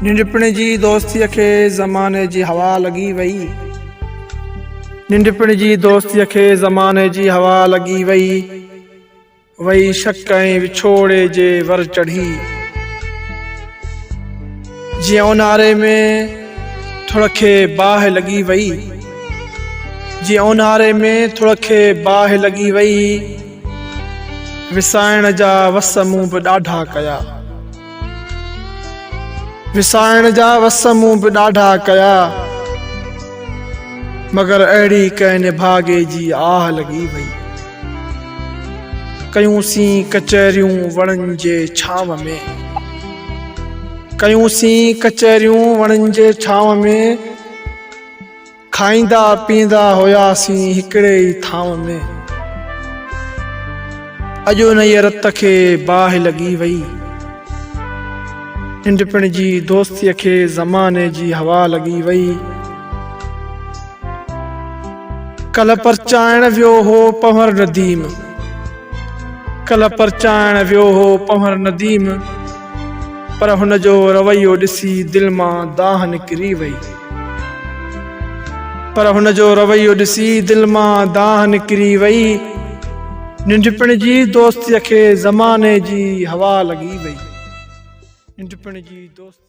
ننڍپڻ جي دوستيء کي زماني جي هوا لڳي وئي. ننڍپڻ جي دوستيء کي زماني جي هوا لڳي وئي. وئي شڪ ۽ وڇوڙي جي ور چڙهي. جيئن اونهاري ۾ ٿڙ کي باهه لڳي وئي. جيئن اونهاري ۾ ٿڙ کي باهه لڳي وئي. وسائڻ جا وس مون به ڏاڍا ڪيا. وسائڻ جا وس مون به ڏاڍا ڪيا. مگر اهڙي ڪنهن نڀاڳي جي آهه لڳي وئي. ڪيون سين ڪچهريون وڻن جي ڇانو ۾. ڪيون سين ڪچهريون وڻن جي ڇانو ۾. کائيندا پيئندا هياسين هڪڙي ئي ٿانو ۾. اڄ انهيء رت کي باهه لڳي وئي. ننڍپڻ جي دوستيء کي زماني جي هوا لڳي وئي. ڪلهه پرچائڻ ويو هو پنهور نديم. ڪلهه پرچائڻ ويو هو پنهور نديم. پر هن جو رويو ڏسي دل مان دانهن نڪري وئي. پر هن جو رويو ڏسي دل مان دانهن نڪري وئي. ننڍپڻ جي دوستيء کي زماني جي هوا لڳي وئي. ننڍپڻ جي دوستيء کي.